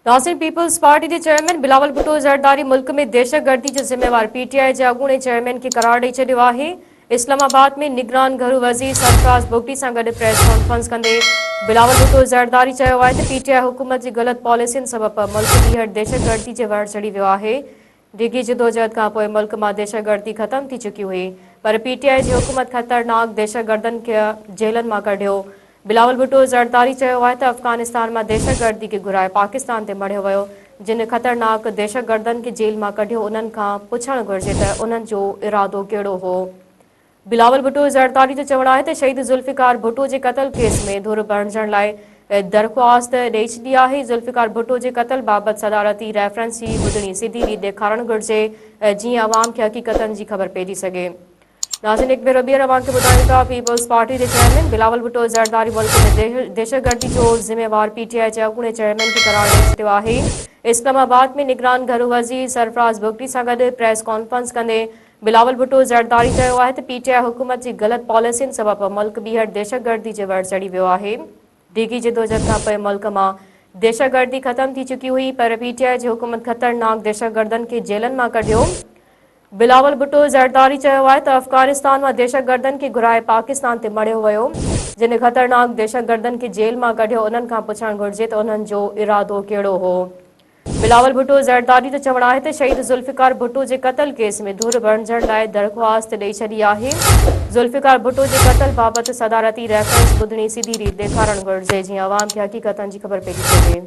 Nasir Peoples Party جي chairman Bilawal Bhutto Zardari ملڪ ۾ دهشتگردي جو ذميوار پي ٽي آء جي اڳوڻي چيئرمين کي قرار ڏئي ڇڏيو آهي اسلام آباد ۾ نگران گهرو وزير سرفراز بگٽي سان گڏ پريس ڪانفرنس ڪندي بلاول ڀٽو زرداري چيو آهي ته پي ٽي آء حڪومت جي غلط پاليسين سبب ملڪ ٻيهر دهشتگردي جي وهڙ چڙهي ويو آهي ڊگهي جدوجهد کان پوء ملڪ مان دهشتگردي ختم ٿي چڪي هئي پر پي ٽي آء جي حڪومت خطرناڪ دهشتگردن کي جيلن مان ڪڍيو. بلاول ڀٽو زرداري چيو آهي ته افغانستان مان دهشتگردي کي گهرائي پاڪستان تي مڙهيو ويو، جن خطرناڪ دهشتگردن کي جيل مان ڪڍيو انهن کان پڇڻ گهرجي ته انهن جو ارادو ڪهڙو هو. بلاول ڀٽو زرداري جو چوڻ آهي ته شهيد ذوالفقار ڀٽو جي قتل ڪيس ۾ ڌر بڻجڻ لاء درخواست ڏئي ڇڏي آهي ذوالفقار ڀٽو جي قتل بابت صدارتي ريفرنس جي ٻڌڻي سڌي ريت ڏيکارڻ گهرجي جيئن عوام کي حقيقتن جي خبر پئجي سگهي ناظرين هڪ ڀيرو ٻيهر اوهان کي ٻڌايون ٿا پيپلز پارٽي جي چيئرمين بلاول ڀٽو زرداري ملڪ ۾ دهشتگردي جو ذميوار پي ٽي آء جي اڳوڻي چيئرمين کي قرار ڏئي ڇڏيو آهي اسلام آباد ۾ نگران گهرو وزير سرفراز بگٽي سان گڏ پريس ڪانفرنس ڪندي بلاول ڀٽو زرداري چيو آهي ته پي ٽي آء حڪومت جي غلط پاليسين سبب ملڪ ٻيهر دهشتگردي جي وڙ چڙهي ويو آهي، ڊگهي جدوجهد کان پوء ملڪ مان دهشتگردي ختم ٿي چڪي هئي پر پي ٽي آء جي حڪومت خطرناڪ دهشتگردن کي جيلن مان ڪڍيو. بلاول ڀٽو زرداري چيو آهي ته افغانستان مان دهشتگردن کي گهرائي پاڪستان تي مڙهيو ويو، جن خطرناڪ دهشتگردن کي جيل مان ڪڍيو انهن کان پڇڻ گهرجي ته انهن جو ارادو ڪهڙو هو. بلاول ڀٽو زرداري ته چوڻ آهي ته شهيد ذوالفقار ڀٽو جي قتل ڪيس ۾ ڌر بڻجڻ لاء درخواست ڏئي ڇڏي آهي، ذوالفقار ڀٽو جي قتل بابت صدارتي ريفرنس ٻڌڻي سڌي ريت ڏيکارڻ گهرجي جيئن عوام کي حقيقتن جي خبر پئجي سگهي.